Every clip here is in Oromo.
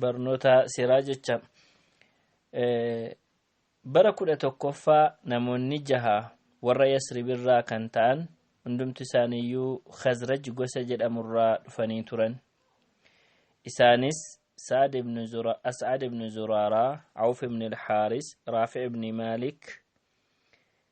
barnoota seeraa jecha bara kudha tokkoffaa namoonni jaha warra yasribirraa kan ta'an hundumti isaaniiyyuu khazraj gosa jedhamurraa dhufanii turan isaanis sa'ad ibn zura as'ad ibn zuraaraa awf ibn alhaaris raafi ibn maalik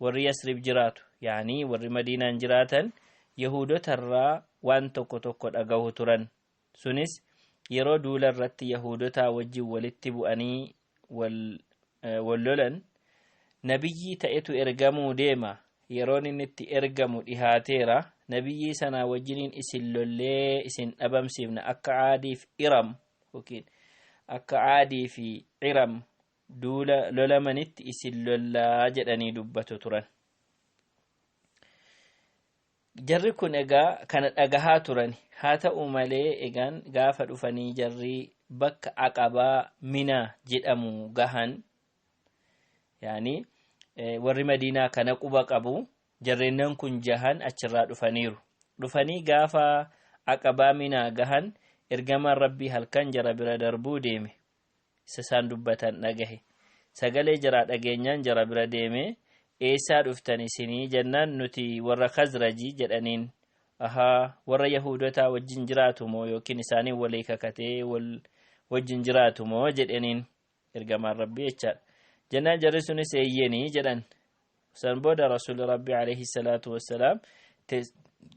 Warri Yasrib jiraatu, ya'anii warri Madiinaan jiraatan Yahuudota irraa waan tokko tokko dhagahu turan. Sunis yeroo duula irratti Yahuudotaa wajjin walitti bu'anii wal wal lolan nabiyyii ta'etu ergamuu deema yeroon inni itti ergamu dhihaateera nabiyyii sanaa wajjiniin isin lollee isin dhabamsiifna akka aadiif iram yookiin akka aadii fi iram duula lolamanitti isin lollaa jedhanii dubbatu turan. Jarri kun egaa kana dhagahaa turani. Haa ta'u malee egaan gaafa dhufanii jarri bakka aqabaa minaa jedhamu gahan yaani warri madiinaa kana quba qabu jarreennan kun jahan achirraa dhufaniiru. Dhufanii gaafa aqabaa minaa gahan ergamaan rabbii halkan jara bira darbuu deeme. isa isaan dubbatan dhagahe sagalee jaraa dhageenyaan jara bira deemee eessaa dhuftan isinii jennaan nuti warra kazraji jedhaniin ahaa warra yahuudotaa wajjin jiraatu moo yookiin isaaniin walii kakatee wal wajjin jiraatu moo jedhaniin ergamaan rabbii jechaadha jennaan jarri sunis eeyyeenii jedhan San booda Rasuulli Rabbi alayhi salaatu wassalaam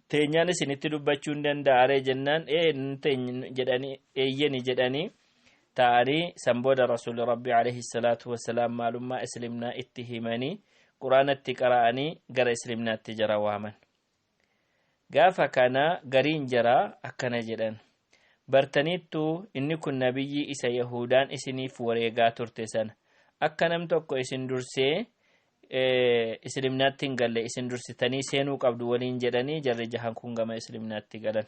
teenyaan isinitti dubbachuu hin danda'aree jennaan ee jedhanii eeyyeni jedhanii ta'anii san booda Rasuulli Rabbi alayhi salaatu wassalaam maalummaa Islimnaa itti himanii quraanatti qara'anii gara Islimnaatti jara waaman. Gaafa kana gariin jaraa akkana jedhan, Bartaniittuu inni kun nabiyyii isa Yahuudaan isiniif wareegaa turte sana. Akka nam tokko isin dursee Islimnaatti hin galle isin dursitanii seenuu qabdu waliin jedhanii jarri jahan kun gama Islimnaatti galan.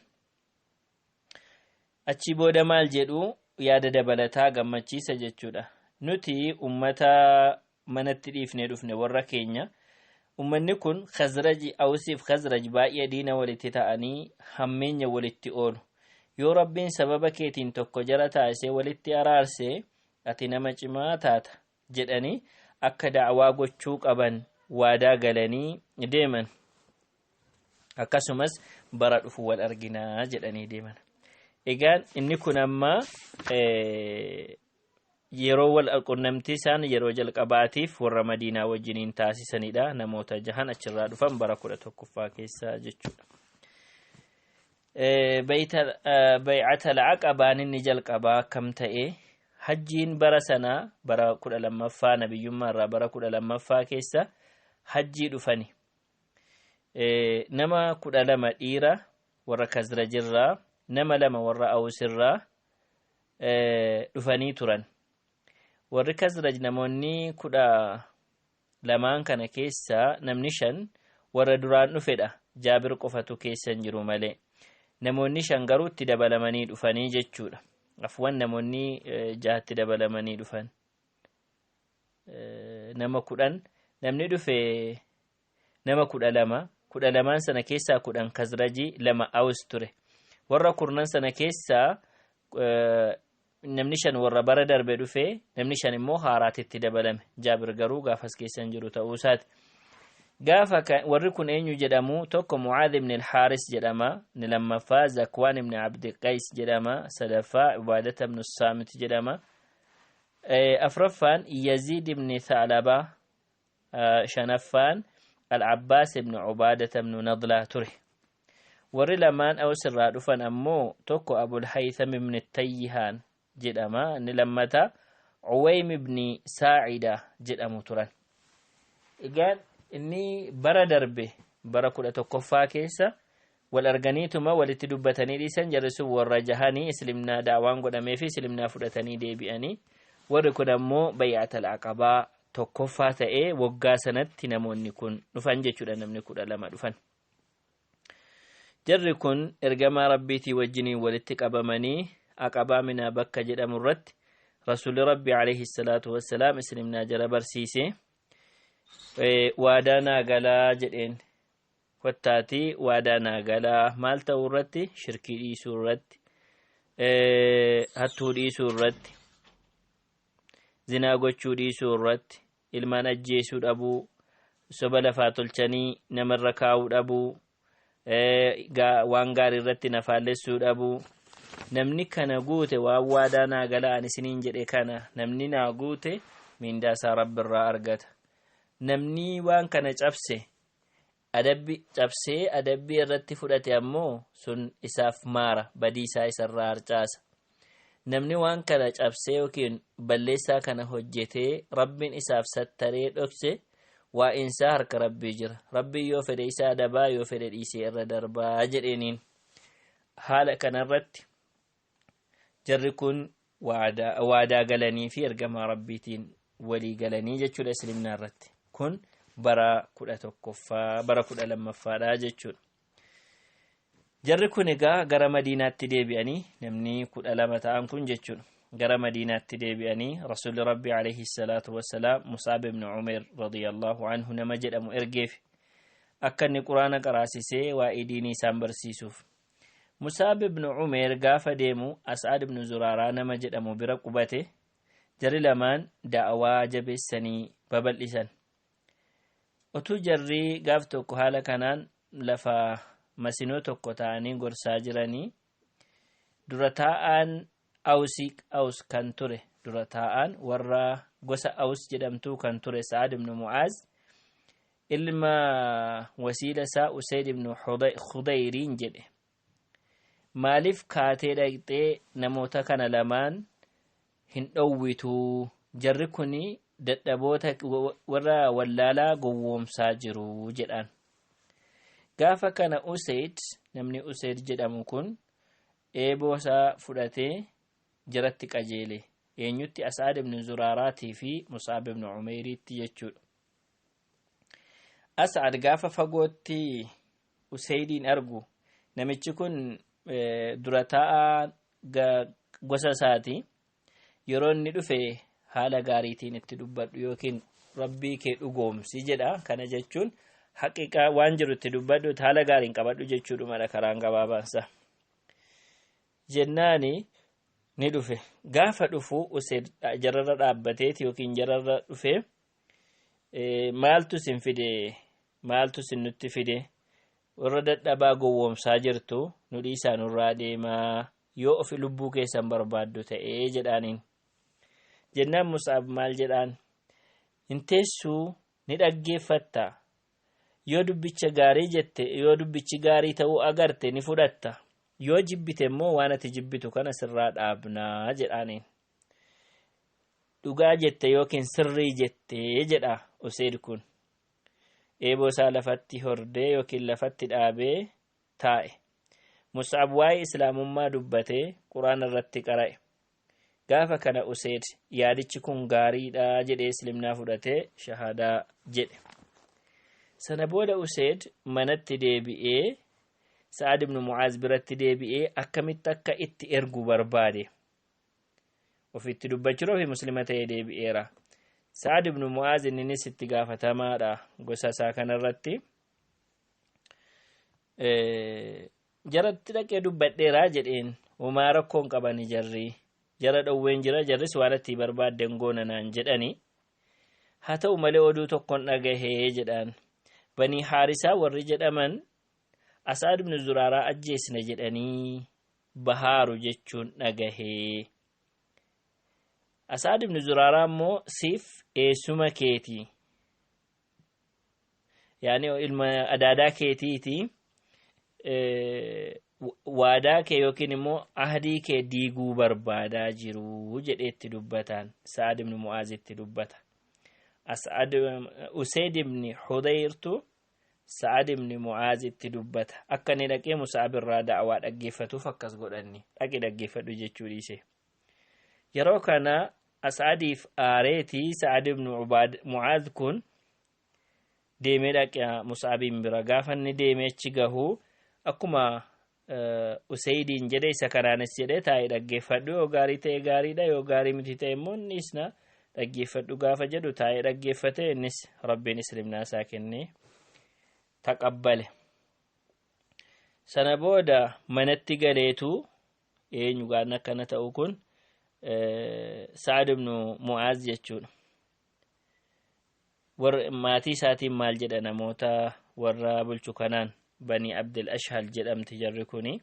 Achii booda maal jedhu yaada dabalataa gammachiisa jechuudha. Nuti ummata manatti dhiifnee dhufne warra keenya ummanni kun khazraji awsiif khazraj baay'ee diina walitti ta'anii hammeenya walitti oolu yoo rabbiin sababa keetiin tokko jara taasisee walitti araarse ati nama cimaa taata jedhanii akka da'awaa gochuu qaban waadaa galanii deeman akkasumas bara dhufu wal arginaa jedhanii deeman egaan inni kun ammaa Yeroo wal qunnamtii isaan yeroo jalqabaatiif warra Madiinaa wajjiniin taasisanidha. Namoota jahan achirraa dhufan bara kudha tokkoffaa keessa jechuudha. Bay'atal Aqabaan inni jalqabaa akkam ta'e hajjiin bara sanaa bara kudha lammaffaa nabiyyummaa irraa bara kudha lammaffaa keessa hajjii dhufani. Nama kudha lama dhiira warra Kazrajirraa, nama lama warra Awusirraa, dhufanii turan. Warri Kazraj namoonni kudha lamaan kana keessaa namni shan warra duraan dhufedha. Jaabir qofatu keessa hin jiru malee. Namoonni shan garuu itti dabalamanii dhufanii jechuudha. Afwan namoonni jahatti dabalamanii dhufan. Nama kudhan namni dhufe nama kudha lama, kudha lamaan sana keessaa kudhan Kazrajii, lama Awus ture. Warra kurnan sana keessaa eh, namni shan warra bara darbe dhufe, namni shan immoo haaraatti itti dabalame. Jaabir garuu gaafas keessa hin jiru ta'uu isaati. Gaafa ka- warri kun eenyu jedhamu tokko Mucaad ibn al-Haaris jedhama, inni lammaffaa Zakwaan ibn Abdi Qays jedhama, sadaffaa Ubaadata ibn Saamit jedhama. Eh, afraffaan Yaziid ibn Thaalabaa shanaffaan Al-Abbaas ibn Ubaadata ibn Nadlaa ture. Warri lamaan Aws irraa dhufan ammoo tokko Abul Haytham ibn Tayyihaan jedhama, inni lammata Uwaym ibn Saa'ida jedhamu turan. Egaan inni bara darbe bara kudha tokkoffaa keessa Wal arganiituma walitti dubbatanii dhiisan jarri sun warra jahanii islimnaa da'awaan godhameefi islimnaa fudhatanii deebi'anii warri kun ammoo bay'atal aqabaa tokkoffaa ta'ee waggaa sanatti namoonni kun dhufan jechuudha namni kudha lama dhufan jarri kun ergamaa rabbiitii wajjiniin walitti qabamanii aqabaa minaa bakka jedhamu irratti rasuulli rabbi alayhi salaatu wassalaam islimnaa jara barsiise waadaa naa galaa jedheen kottaatii waadaa naa galaa maal ta'uu irratti shirkii dhiisuu irratti hattuu dhiisuu irratti zinaa gochuu dhiisuu irratti ilmaan ajjeesuu dhabuu soba lafaa tolchanii namarra kaa'uu dhabuu waan gaarii irratti na faallessuu dhabuu namni kana guute waan waadaa naa galaa ani isiniin jedhe kana namni naa guute miindaa isaa rabbi irraa argata namni waan kana cabse adabbi cabsee adabbii irratti fudhate ammoo sun isaaf maara badii isaa isarraa harcaasa namni waan kana cabsee yookiin balleessaa kana hojjetee rabbiin isaaf sattaree dhokse waa'insaa harka rabbii jira rabbiin yoo fedhe isaa adabaa yoo fedhe dhiisee irra darbaa jedheeniin haala kanarratti jarri kun waadaa waadaa galanii fi ergamaa rabbiitiin walii galanii jechuudha islimnaa irratti kun bara kudha tokkoffaa bara kudha lammaffaadha jechuudha jarri kun egaa gara madiinaatti deebi'anii namni kudha lama ta'an kun jechuudha gara madiinaatti deebi'anii rasuulli rabbi alayhi salaatu wassalaam musaab ibn umeer radiyallahu anhu nama jedhamu ergeef akka inni quraana qaraasisee waa'ee diinii isaan barsiisuuf Musaab ibnu Umeer gaafa deemu As'aad ibnu Zuraaraa nama jedhamu bira qubate, jarri lamaan da'awaa jabeessanii babal'isan. Otuu jarri gaaf tokko haala kanaan lafa masinoo tokko ta'anii gorsaa jiranii dura taa'aan Awsii Aws kan ture dura taa'aan warra gosa Aws jedhamtuu kan ture Sa'ad ibnu Mu'aaz ilma wasiila isaa usayd ibnu khudayriin jedhe maaliif kaatee dhaqxee namoota kana lamaan hin dhowwituu jarri kun dadhaboota warra wallaalaa gowwoomsaa jiru jedhaan gaafa kana usayd namni usayd jedhamu kun eeboo isaa fudhatee jaratti qajeele eenyutti as'aad ibnu zuraaraatii fi musaab ibnu umeeriitti jechuudha As'ad gaafa fagootti Useydiin argu namichi kun dura taa'aa gosa isaati yeroo inni dhufe haala gaariitiin itti dubbadhu yookiin rabbii kee dhugoomsi jedha kana jechuun haqiqaa waan jiru itti dubbadhu haala gaariin qabadhu jechuudhumadha karaan gabaabaansa jennaani ni dhufe gaafa dhufu useed jararra dhaabbateeti yookiin jararra dhufe Eh, maaltu isin fide maaltu isin nutti fide warra dadhabaa gowwoomsaa jirtu nu dhiisaa nurraa deemaa yoo ofi lubbuu keessan barbaaddu ta'ee jedhaaniin jennaan musaab maal jedhaan hin teessuu ni dhaggeeffatta yoo dubbicha gaarii jette yoo dubbichi gaarii ta'uu agarte ni fudhatta yoo jibbite immoo waan ati jibbitu kana sirraa dhaabnaa jedhaaniin Dhugaa jette yookiin sirrii jette jedha Useed kun. Eeboo isaa lafatti hordee yookiin lafatti dhaabee taa'e. Mus'ab waa'ee Islaamummaa dubbatee Quraan irratti qara'e. Gaafa kana Useed yaadichi kun gaariidha jedhee Islimnaa fudhatee shahaadaa jedhe. Sana booda Useed manatti deebi'ee Sa'ad ibn Mu'aaz biratti deebi'ee akkamitti akka itti ergu barbaade. ofitti dubbachuun ofi muslima ta'ee deebi'eera sa'ad ibnu mu'aaz inninis itti gaafatamaadha gosa isaa kanarratti jaratti dhaqee dubbadheeraa jedheen homaa rakkoon qabani jarrii jara dhowween jira jarris waan atti barbaadden goona naan jedhani haa ta'u malee oduu tokkon dhagahee jedhaan banii haarisaa warri jedhaman asaad ibnu zuraaraa ajjeesna jedhanii bahaaru jechuun dhagahee. Asaad ibnu Zuraaraa immoo siif eessuma keeti. Yaani ilma adaadaa keetiiti. Waadaa kee yookiin immoo ahdii kee diiguu barbaadaa jiru jedheetti dubbataan Sa'ad ibnu Mu'aazitti dubbata. As'ad Useyd ibni Hudayrtu Sa'ad ibn Mu'aaz itti dubbata. Akka inni dhaqee Musa'ab irraa da'awaa dhaggeeffatuuf akkas godhanni. Dhaqi dhaggeeffadhu jechuu dhiise. Yeroo kana As'adiif aareeti Sa'ad ibn Ubaad Mu'aaz kun deemee dhaqa Musa'abiin bira. Gaafa inni deemee achi gahu akkuma Useydiin jedhe isa kanaanis jedhe taa'ee dhaggeeffadhu yoo gaarii ta'e gaariidha yoo gaarii miti ta'e immoo inni isna dhaggeeffadhu gaafa jedhu taa'ee dhaggeeffate innis rabbiin islimnaa isaa kennee taqabbale. Sana booda manatti galeetu eenyu gaanna akkana ta'u kun Sa'ad ibnu Mu'aaz jechuudha. warra maatii isaatiin maal jedha namoota warra bulchu kanaan banii abdul ashhal jedhamti jarri kuni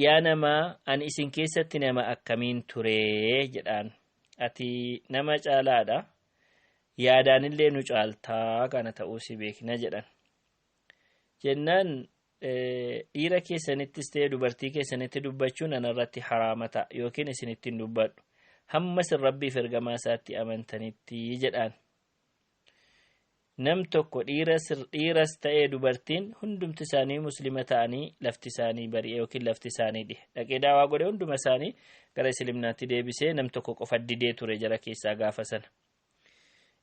yaa nama ani isin keessatti nama akkamiin turee jedhaan ati nama caalaadha yaadaanillee nu caaltaa kana ta'uu si beekna jedhan jennaan dhiira keessanittis ta'e dubartii keessanitti dubbachuun anarratti haraama ta'a yookiin isinittiin dubbadhu hamma isin rabbiif ergamaa isaatti amantanitti jedhaan nam tokko dhiiras ta'ee dubartiin hundumti isaanii muslima ta'anii lafti isaanii bari'e yookiin lafti isaanii dhihe dhaqee daawaa godhe hunduma isaanii gara islimnaatti deebisee nam tokko qofa didee ture jara keessaa gaafa sana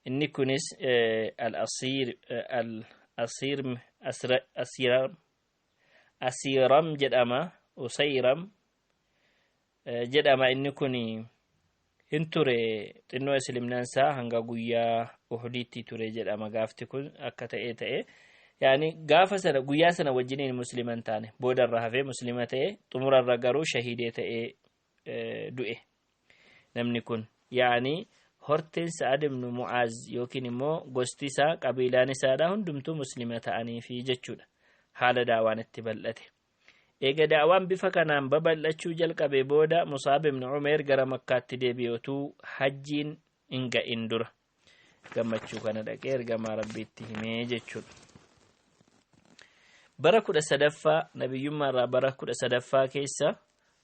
Inni kunis asiiram jedhama usayram jedhama inni kun hin ture xinnoo islimnaan isaa hanga guyyaa uhdiitti ture jedhama gaafti kun akka ta'ee ta'e yaani gaafa sana guyyaa sana wajjiniin musliman taane boodarra hafee muslima ta'e xumurarra garuu shahiidee ta'ee du'e namni kun yaani horteen sa'ad ibnu mu'aaz yookiin immoo gosti isaa qabiilaan isaadha hundumtuu muslima ta'anii fi jechuudha haala daawaan itti bal'ate eega daawaan bifa kanaan babal'achuu jalqabe booda musaab ibnu umeer gara makkaatti deebi'otuu hajjiin hin ga'in dura gammachuu kana dhaqee ergamaa rabbiitti himee jechuudha. Bara kudha sadaffaa nabiyyummaa irraa bara kudha sadaffaa keessa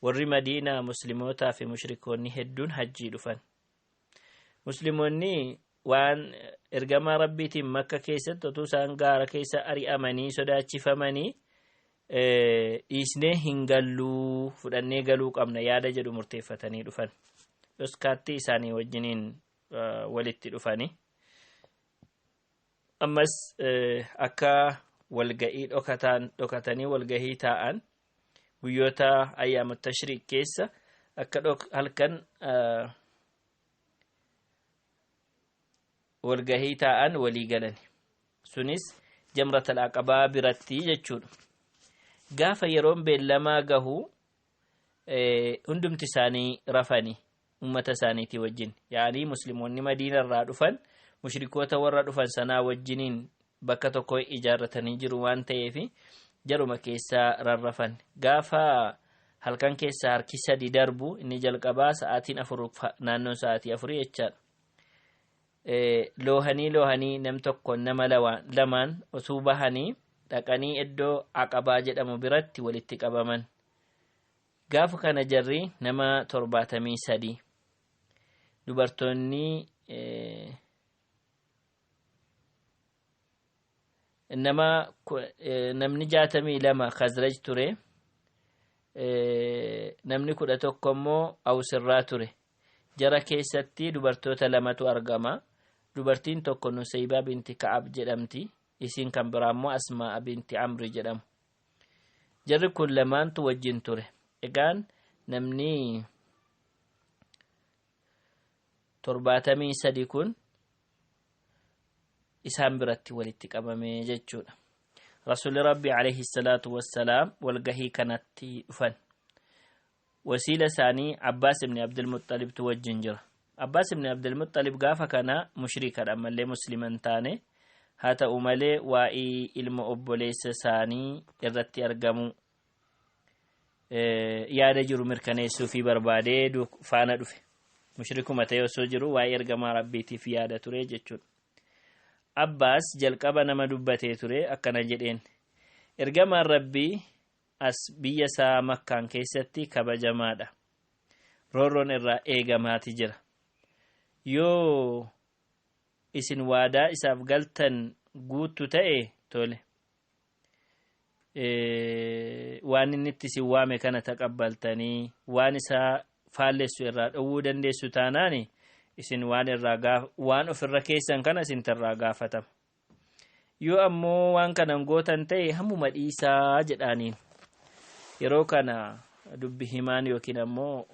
warri madiinaa muslimootaa fi mushrikoonni hedduun hajjii dhufan. Musliimonni waan ergamaa rabbiitiin makka keessatti otuu isaan gaara keessa ari'amanii sodaachifamanii dhiisnee hin galluu fudhannee galuu qabna yaada jedhu murteeffatanii dhufan. Dhoskaatti isaanii wajjiniin walitti dhufani. Ammas akka walga'ii dhokataan dhokatanii walgahii taa'an guyyoota ayyaama tashriiq keessa akka halkan walgahii taa'an walii galani. Sunis jamratal aqabaa biratti jechuudha. Gaafa yeroon beellamaa gahu hundumti isaanii rafani ummata isaaniitii wajjin yaanii musliimonni madiina irraa dhufan mushrikoota warra dhufan sanaa wajjiniin bakka tokko ijaarratanii jiru waan ta'eef jaruma keessaa rarrafan gaafa halkan keessaa harki sadi darbu inni jalqabaa sa'aatiin afur naannoon sa'aatii afurii jechaadha. loohanii loohanii nam tokkoon nama lamaan osuu bahanii dhaqanii iddoo aqabaa jedhamu biratti walitti qabaman gaafa kana jarri nama torbaatamii sadii dubartoonni nama namni jaatamii lama khazraj ture namni kudha tokko immoo awsirraa ture jara keessatti dubartoota lamatu argama dubartiin tokko nuseybaa binti ka'ab jedhamti isiin kan biraa immoo asmaa'a binti amri jedhamu jarri kun lamaantu wajjin ture egaan namni torbaatamii sadi kun isaan biratti walitti qabame jechuudha rasuulli rabbi alayhi salaatu wassalaam walgahii kanatti dhufan wasiila isaanii abbaas ibni abdulmuxxalibtu wajjin jira abbaas ibni abdulmuxxalib gaafa kana mushrikadha ammallee musliman taane haa ta'u malee waa'ee ilma obboleessa isaanii irratti argamu yaada jiru mirkaneessuu fi barbaadee faana dhufe mushrikuma ta'e osoo jiru waa'ee ergamaa rabbiitiif yaada ture jechuudha. Abbaas jalqaba nama dubbatee ture akkana jedheen ergamaan rabbii as biyya isaa makkaan keessatti kabajamaadha. Roorroon irraa eegamaati jira. Yoo isin waadaa isaaf galtan guuttu ta'e tole. waan inni itti isin waame kana taqabbaltanii waan isaa faallessu irraa dhowwuu dandeessu taanaani isin waan irraa gaaf waan of irra keessan kana isin irraa gaafatama yoo ammoo waan kanan gootan ta'e hammuma dhiisaa jedhaaniin yeroo kana dubbi himaan yookiin ammoo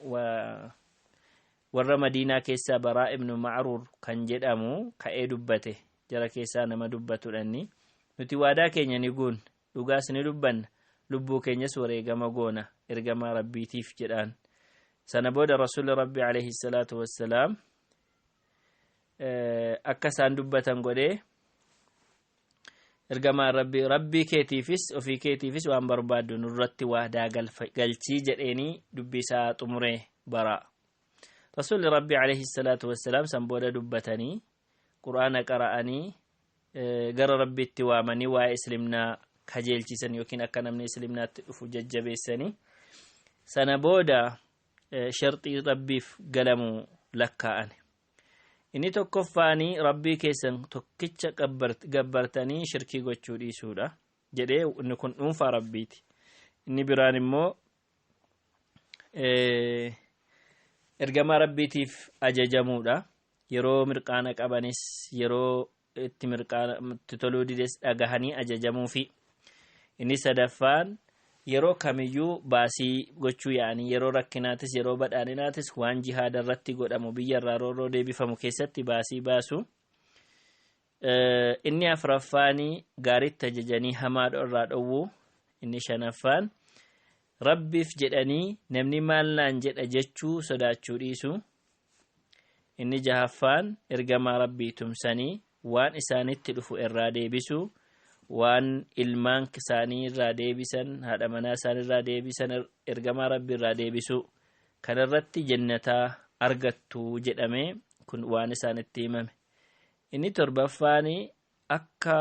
warra madiinaa keessaa baraa ibnu macruur kan jedhamu ka'ee dubbate jara keessaa nama dubbatudha inni. Nuti waadaa keenya ni guunna, dhugaas ni dubbanna, lubbuu keenyas wareegama goona, ergamaa Rabbiitiif jedhaan. Sana booda Rasuulli Rabbi alayhi salaatu wassalaam akka isaan dubbatan godhee ergamaan Rabbi Rabbii keetiifis ofii keetiifis waan barbaaddu nurratti waadaa galchii jedheenii dubbii isaa xumuree bara. Rasuulli Rabbi alayhi salaatu wassalaam san booda dubbatanii qur'aana qara'anii gara rabbiitti waamanii waa'ee islimnaa kajeelchisan yookiin akka namni islimnaatti dhufu jajjabeessanii sana booda sharxii rabbiif galamu lakkaa'an inni tokkoffaanii rabbii keessan tokkicha gabbartanii shirkii gochuu dhiisuudha jedhee inni kun dhuunfaa rabbiiti inni biraan immoo ergamaa rabbiitiif ajajamuudha yeroo mirqaana qabanis yeroo itti mirqaana itti toluu dides dhagahanii ajajamuufi inni sadaffaan yeroo kamiyyuu baasii gochuu yaa'anii yeroo rakkinaatis yeroo badhaadhinaatis waan jihaada irratti godhamu biyya irraa roorroo deebifamu keessatti baasii baasu Inni afraffaan gaariitti ajajanii hamaa irraa dhowwu. Inni shanaffaan rabbiif jedhanii namni maal naan jedha jechuu sodaachuu dhiisu. Inni jahaffaan ergamaa rabbii tumsanii waan isaanitti dhufu irraa deebisu. Waan ilmaan isaanii irraa deebisan haadha manaa isaanii irraa deebisan ergamaa rabbii irraa deebisu. Kanarratti jennataa argattu jedhamee kun waan isaanitti himame. Inni torbaffaan akka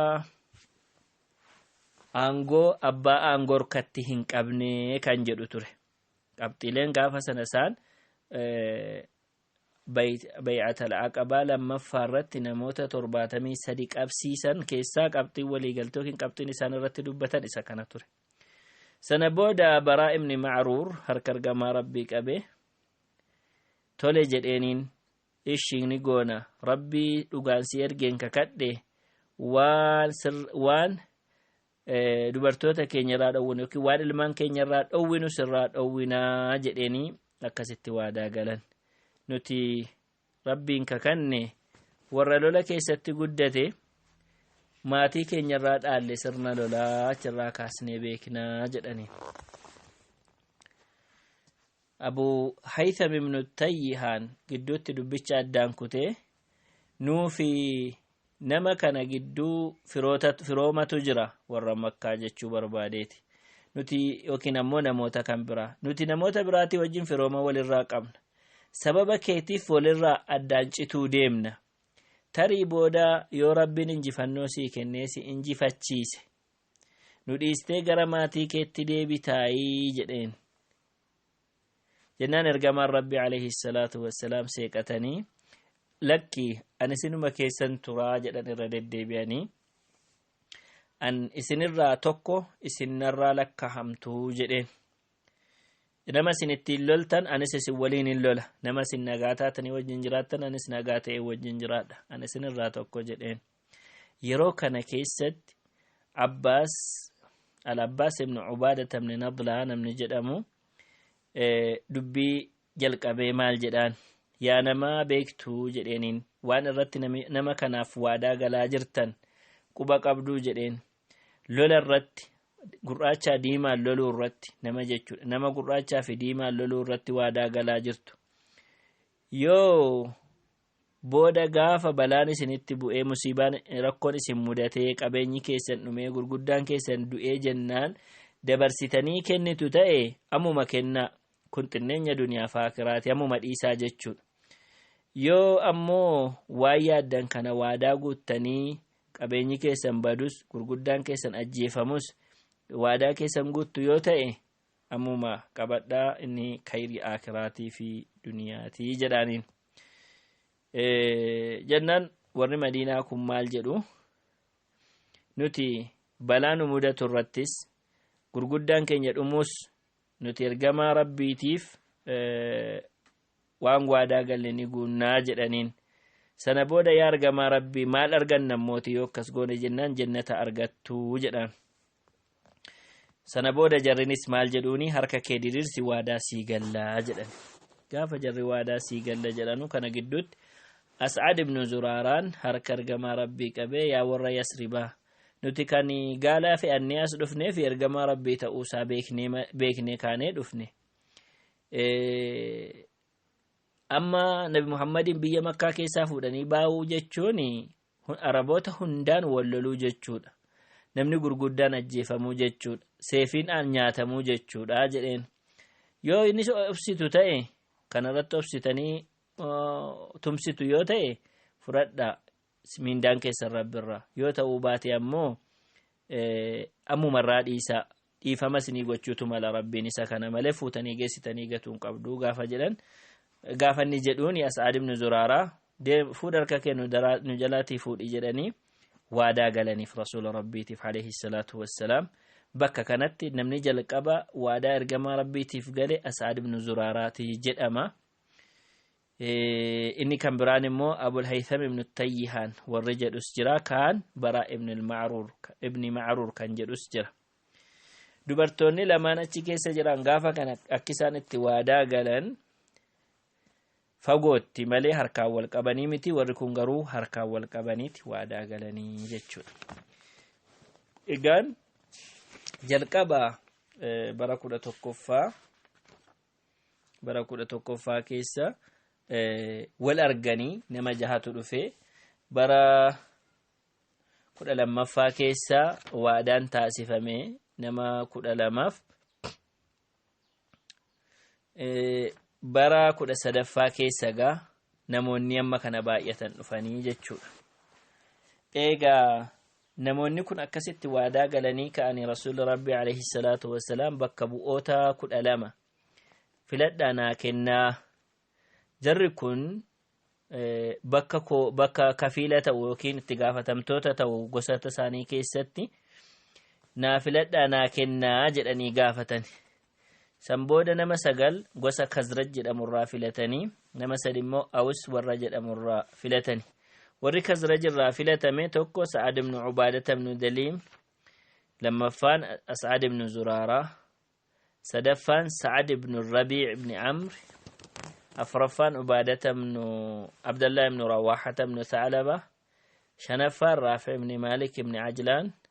aangoo abbaa aangoo harkatti hin qabne kan jedhu ture. Qabxiileen gaafa sana isaan bay'atal aqabaa lammaffaa irratti namoota torbaatamii sadi qabsiisan keessaa qabxiin waliigaltee yookiin qabxiin isaan irratti dubbatan isa kana ture. Sana booda baraa ibni macruur harka ergamaa rabbii qabee tole jedheeniin ishi ni goona rabbii dhugaan si ergeen kakadhe waan sir- waan eh, dubartoota keenya irraa dhowwinu yookiin waan ilmaan keenya irraa dhowwinu sirraa dhowwinaa jedheenii akkasitti waadaa galan nuti rabbiin kakanne warra lola keessatti guddate maatii keenya irraa dhaalle sirna lolaa achirraa kaasnee beeknaa jedhanii Abu Haytham ibnu Tayyihaan gidduutti dubbicha addaan kutee nuu fi nama kana gidduu firoota firoomatu jira warra makkaa jechuu barbaadeeti nuti yookiin ammoo namoota kan biraa nuti namoota biraatii wajjin firooma walirraa qabna sababa keetiif walirraa addaan cituu deemna tarii booda yoo rabbiin injifannoo sii kennee si injifachiise nu dhiistee gara maatii keetti deebitaayii jedheen jennaan ergamaan rabbi alayhi salaatu wassalaam seeqatanii lakki an isinuma keessan turaa jedhan irra deddeebi'anii an isinirraa tokko isinirraa lakkahamtuu jedheen nama isin ittiin loltan anis isin waliin hin lola nama isin nagaa taatanii wajjin jiraattan anis nagaa ta'ee wajjin jiraadha an isinirraa tokko jedheen yeroo kana keessatti abbaas al-abbaas ibn ubaada tamni nadlaa namni jedhamu dubbii jalqabee maal jedhaan yaa namaa beektuu jedheeniin waan irratti nama kanaaf waadaa galaa jirtan quba qabduu jedheen lola irratti gurraachaa diimaan loluu irratti nama jechuudha nama gurraachaa fi diimaan loluu irratti waadaa galaa jirtu yoo Booda gaafa balaan isinitti bu'ee musiibaan rakkoon isin mudatee qabeenyi keessan dhumee gurguddaan keessan du'ee jennaan dabarsitanii kennitu ta'e ammuma kennaa kun xinneenya duniyaa fi aakiraati ammuma dhiisaa jechuudha. Yoo ammoo waan yaaddan kana waadaa guuttanii qabeenyi keessan badus gurguddaan keessan ajjeefamus waadaa keessan guuttu yoo ta'e ammuma qabadhaa inni kayrii aakiraatii fi duniyaatii jedhaaniin jennaan warri madiinaa kun maal jedhu nuti balaa nu mudatu irrattis gurguddaan keenya dhumuus nuti ergamaa rabbiitiif waan waadaa galle ni guunnaa jedhaniin sana booda yaa ergamaa rabbii maal arganna mooti yoo akkas goone jennaan jennata argattuu jedhaan sana booda jarrinis maal jedhuuni harka kee diriirsi waadaa sii gallaa jedhan gaafa jarri waadaa sii galla jedhanu kana gidduutti as'ad ibnu zuraaraan harka ergamaa rabbii qabee yaa warra yasribaa nuti kan gaalaa fe'annee as dhufnee fi ergamaa rabbii ta'uusaa beeknee kaanee dhufne amma nabi muhammadiin biyya makkaa keessaa fuudhanii baa'uu jechuun Araboota hundaan wal loluu jechuudha. Namni gurguddaan ajjeefamuu jechuudha. Seefiin aan nyaatamuu jechuudha jedheen. Yoo innis obsitu ta'e kanarratti obsitanii tumsitu yoo ta'e fudhadhaa miindaan keessan rabbirraa. Yoo ta'uu baate ammoo ammumarraa dhiisaa. dhiifama isinii gochuutu mala rabbiin isa kana malee fuutanii geessitanii gatuun qabduu gaafa jedhan gaafa inni jedhuuni as'aad ibnu zuraaraa fuudha harka kee nu jalaatii fuudhi jedhanii waadaa galaniif rasuula rabbiitiif alayhi salaatu wassalaam bakka kanatti namni jalqaba waadaa ergamaa rabbiitiif gale as'aad ibnu zuraaraati jedhama inni kan biraan immoo abul haytham ibnu tayyihaan warri jedhus jira kaan bara ibn al-ma'rur ibni ma'rur kan jedhus jira dubartoonni lamaan achi keessa jiran gaafa kana akka isaan itti waadaa galan fagootti malee harkaan wal qabanii miti warri kun garuu harkaan wal qabaniiti waadaa galanii jechuudha egaan jalqaba bara kudha tokkoffaa bara kudha tokkoffaa keessa wal arganii nama jahatu dhufee bara kudha lammaffaa keessa waadaan taasifame nama kudha lamaaf bara kudha sadaffaa keessa gaa namoonni amma kana baay'atan dhufanii jechuudha. Egaa Namoonni kun akkasitti waadaa galanii ka'anii Rasuulli Rabbii alayhi salaatu wassalaam bakka bu'oota kudha lama filadhaa naa kennaa. Jarri kun bakka koo bakka kafiila ta'u yookiin itti gaafatamtoota ta'u gosoota isaanii keessatti naa filadhaa naa kennaa jedhanii gaafatani. San booda nama sagal gosa Khazraj jedhamurraa filatanii nama sadi immoo Awus warra jedhamurraa filatani. Warri Khazraj irraa filatame tokko Sa'ad ibn Ubaadata ibn Daliim, lammaffaan As'ad ibn Zuraaraa, sadaffaan Sa'ad ibn Rabii' ibn Amr, afraffaan Ubaadata ibn Abdallah ibn Rawaaxata ibn Tha'alaba, shanaffaan Raafi' ibn Maalik ibn Ajlaan,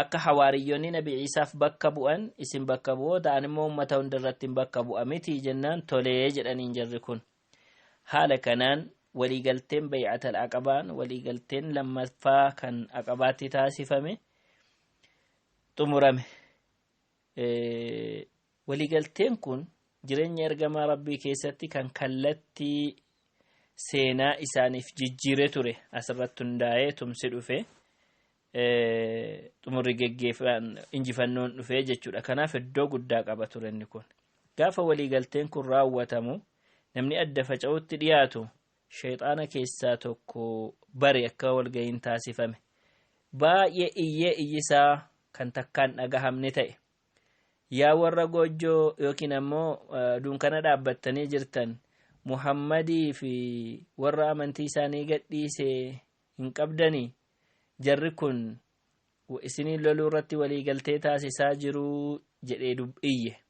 Akka hawaariyyonni Nabi Iisaaf bakka bu'an isin bakka bu'oota an immoo ummata hundarrattin bakka bu'a mitii jennaan tolee jedhaniin jarri kun. Haala kanaan waliigalteen Bay'atal Aqabaan waliigalteen lammaffaa kan Aqabaatti taasifame xumurame. waliigalteen kun jireenya ergamaa rabbii keessatti kan kallattii seenaa isaaniif jijjiire ture asirratti hundaa'ee tumsi dhufe xumurri geggeeffaan injifannoon dhufe jechuudha kanaaf iddoo guddaa qaba ture inni kun gaafa waliigalteen kun raawwatamu namni adda faca'utti dhiyaatu shayxaana keessaa tokko bari akka walga'iin taasifame baay'ee iyyee iyyisaa kan takkaan dhagahamne ta'e yaa warra goojjoo yookiin ammoo dunkana dhaabbattanii jirtan muhammadii fi warra amantii isaanii gadhiise hin qabdanii jarri kun isiniin loluu irratti waliigaltee taasisaa jiruu jedhee iyye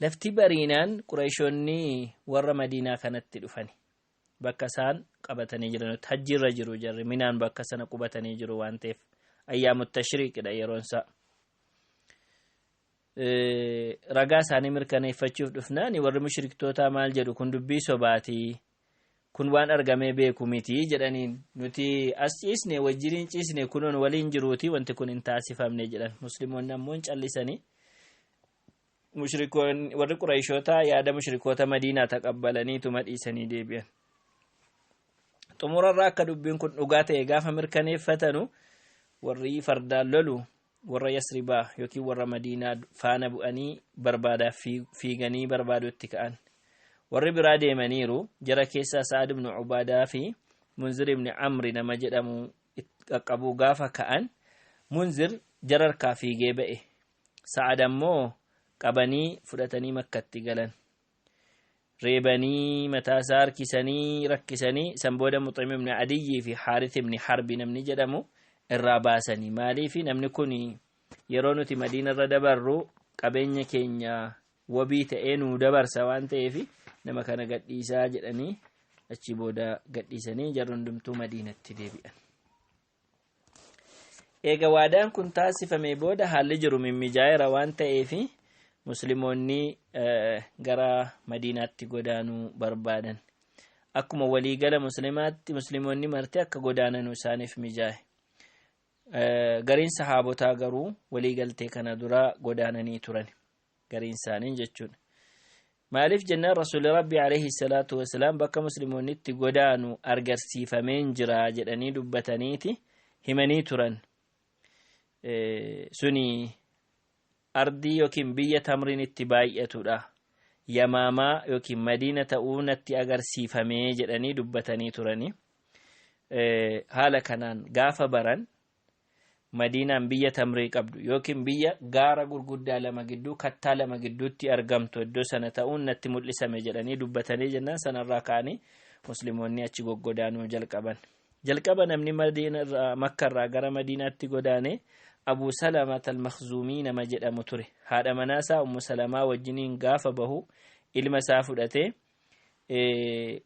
Lafti bariinaan Qurayshoonni warra Madiinaa kanatti dhufani. Bakka isaan qabatanii jiranutti hajjiirra jiru jarri minaan bakka sana qubatanii jiru waan ta'eef ayyaamu tashriiqidha yeroon isaa. Ragaa isaanii mirkaneeffachuuf dhufnaani warri mushriktootaa maal jedhu kun dubbii sobaatii Kun waan argamee beeku miti jedhaniin. Nuti as ciisne wajjin hin ciisne kunoo nu waliin jiruuti wanti kun hin taasifamne jedhan. Musliimonni ammoo hin callisanii. Mushrikoonni warri Qurayshoota yaada mushrikoota Madiinaa taqabbalaniituma dhiisanii deebi'an. Xumurarraa akka dubbiin kun dhugaa ta'e gaafa mirkaneeffatanu warri fardaan lolu warra yasribaa yookiin warra madiinaa faana bu'anii barbaadaaf fiiganii barbaaduu itti ka'an warri biraa deemaniiru jara keessaa sa'ad ibnu ubaadaa fi munzir ibni amri nama jedhamu qaqqabuu gaafa ka'an munzir jara harkaa fiigee ba'e sa'ad ammoo qabanii fudhatanii makkatti galan reebanii mataa isaa harkisanii rakkisanii san booda muxim ibn adiyyii fi haarith ibn harbi namni jedhamu irraa baasanii maaliif namni kun yeroo nuti madiina irra dabarru qabeenya keenya wabii ta'ee nuu dabarsa waan ta'eef nama kana gadhiisaa jedhanii achi booda gadhiisanii jarri hundumtuu madiinatti deebi'an. Eega waadaan kun taasifamee booda haalli jiru mimmijaa'eera waan ta'eef muslimoonni gara madiinaatti godaanuu barbaadan. Akkuma waliigala muslimaatti muslimoonni marti akka godaananu isaaniif mijaa'e. Gariin sahaabotaa garuu waliigaltee kana dura godaananii turan. gariin isaanii jechuudha maaliif jennaan rasuulli rabbii alayhi salaatu wasalaam bakka musliimonni itti godaanu argarsiifameen jira jedhanii dubbataniiti himanii turan suni ardii yookiin biyya tamriin itti baay'atudha yamaamaa yookiin madiina ta'uu natti agarsiifamee jedhanii dubbatanii turani haala kanaan gaafa baran Madiinaan biyya tamrii qabdu yookiin biyya gaara gurguddaa lama gidduu kattaa lama gidduutti argamtu iddoo sana ta'uun natti mul'isame jedhanii dubbatanii jennaan sanarraa ka'anii muslimoonni achi goggodaanuu jalqaban. Jalqaba namni makkarraa gara madiinaatti godaane Abuu Salamat al-Makhzuumii nama jedhamu ture. Haadha manaasaa Ummu Salamaa wajjiniin gaafa bahu ilma isaa fudhatee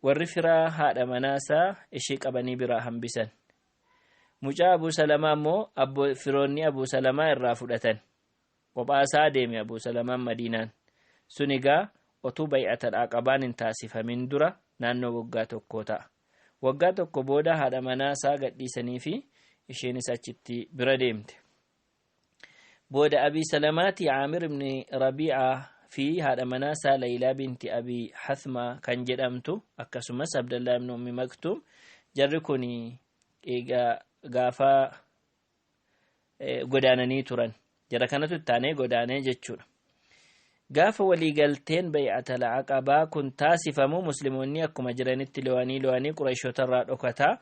warri firaa haadha manaasaa ishee qabanii biraa hambisan. Mucaa Abuu Salamaa immoo abbo firoonni Abuu Salamaa irraa fudhatan. Qophaa isaa deeme Abuu Salamaan Madiinaan. Sun egaa otuu bay'atal aqabaan hin taasifamin dura naannoo waggaa tokkoo ta'a. Waggaa tokko booda haadha manaa isaa gadhiisanii fi isheenis achitti bira deemte. Booda Abii Salamaatii Caamir ibn Rabiicaa fi haadha manaa isaa Laylaa binti Abii Hathmaa kan jedhamtu akkasumas Abdallaa ibn Ummi Maktuum jarri kun egaa gaafa godaananii turan jara kanatu itti aanee godaanee jechuudha. Gaafa waliigalteen bay'atal aqabaa kun taasifamu musliimonni akkuma jiranitti lo'anii lo'anii qurayshoota irraa dhokataa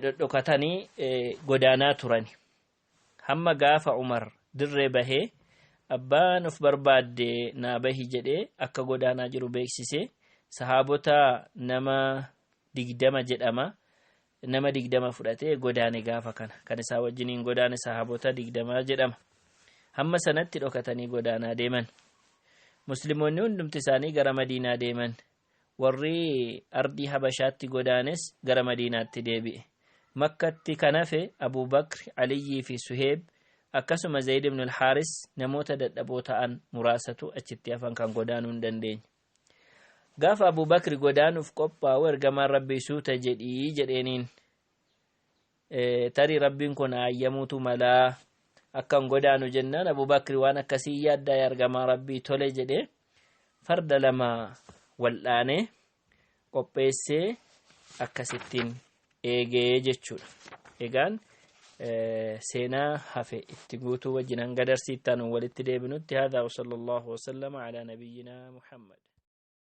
dhodhokatanii godaanaa turani. Hamma gaafa Umar dirree bahee abbaan of barbaadde naa bahi jedhee akka godaanaa jiru beeksise sahaabota nama digdama jedhama nama digdama fudhatee godaane gaafa kana kan isaa wajjiniin godaane sahaabota digdamaa jedhama hamma sanatti dhokatanii godaanaa deeman muslimoonni hundumti isaanii gara madiinaa deeman warri ardii habashaatti godaanes gara madiinaatti deebi'e makkatti kan hafe abuu bakri aliyyii fi suheeb akkasuma zayid ibn alhaaris namoota dadhaboo ta'an muraasatu achitti hafan kan godaanuu hin dandeenye gaafa abuu bakri godaanuuf qophaa'u ergamaan rabbii suuta jedhii jedheeniin Tarii Rabbiin koo na hayyamuutu mala. Akkan godaanu jennaan Abu Bakri waan akkasii yaaddaa ergamaa Rabbii tole jedhe farda lama wal'aanee qopheessee akkasittiin eegee jechuudha. Egaan seenaa hafe itti guutuu wajjin hanga darsiittaan walitti deebinutti haadaa wa sallallahu wa sallama ala nabiyyinaa Muhammad.